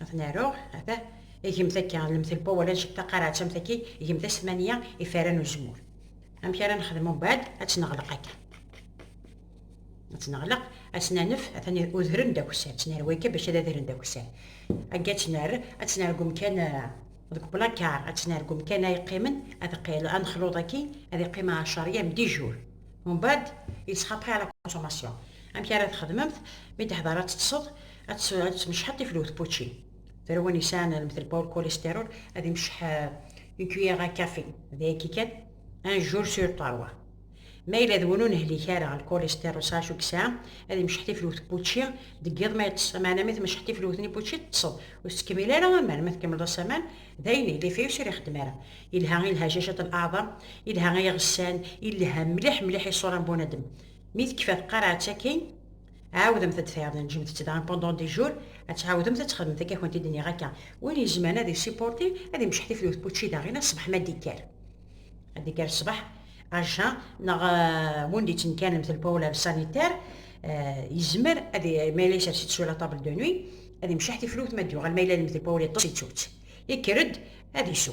Ad aruɣ, ata, igemt akka, lemtelpa wala ncek taqaraɛt am taki, igemt as tmanya ifara n uzemmur. Amek ara nexdem umbeɛd, ad tt-neɣleq akka. Ad tt-neɣleq, ad tt-nanef, atan udren d akessar, tt-nerwi akka bac ad adren d akessar. Agga ad tt-nerr, ad tt-nerr deg umkan, deg uplakar, ad tt-nerr deg umkan ay yeqqimen, ad qil, ad nexluḍ akkin, ad yeqqim ɛecṛ yam, dix jours. Umbeɛd, il sera prêt à la consommation. Amek ara txedmemt, mi d-teḥḍer ad teṭṭseḍ, ad tmecḥeḍ tiflut pučin tarwa n yesɛan lmetl paul kolestérol ad imceḥ ukyir a kafi d ayagi kan un jour sur trois ma yella d win ur nehlik ara lkolestérol s acu yesɛa ad imceḥ tiflut puči deg yiḍ ma yeṭṭes maɛna mi tmecḥ tiflut ni puči teṭṭseḍ ur tettkemmil ara aman ma tkemmleḍ as aman d ayen yelli fiyus ur ixeddem ara yelha i lhajajat n aɛḍam yelha i iɣessan yelha mliḥ mliḥ i ṣṣura n bunadem mi tekfa tqarɛet akin عاودمت ad tfehmemt ǧemt-tt daɣen pendant des jours ad tɛawdemt ad txedmemt akka kent-id nniɣ akka win yezmaren ad yessipurti ad imceḥ tiflut n učči daɣen aṣṣbeḥ ma d-ikker ad d-ikker ṣṣbeḥ aja neɣ win d-ittenkanemt lpawla d sanitar yezmer ad ma yella yessers-itt sur la table de nuit ad imceḥ tiflut ma d-yuɣal ma yella d lpawla yeṭṭes yettu-tt yekker-d ad isu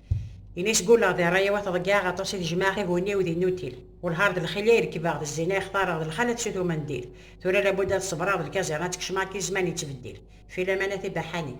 Ini sguleɣ di ṛṛay-iw ad t-ḍeggeɛeɣ aṭas i t-jemɛeɣ i bu-nni-iw di nnutil. Welhar d lxili i rekbeɣ, d zzina i xtareɣ, d lxalat s utum n ddil. Tura labud ad ṣebreɣ, d lkaẓiṛ ad tt-kecmeɣ akken zzman yettbeddil. Filaman a tibaḥanin.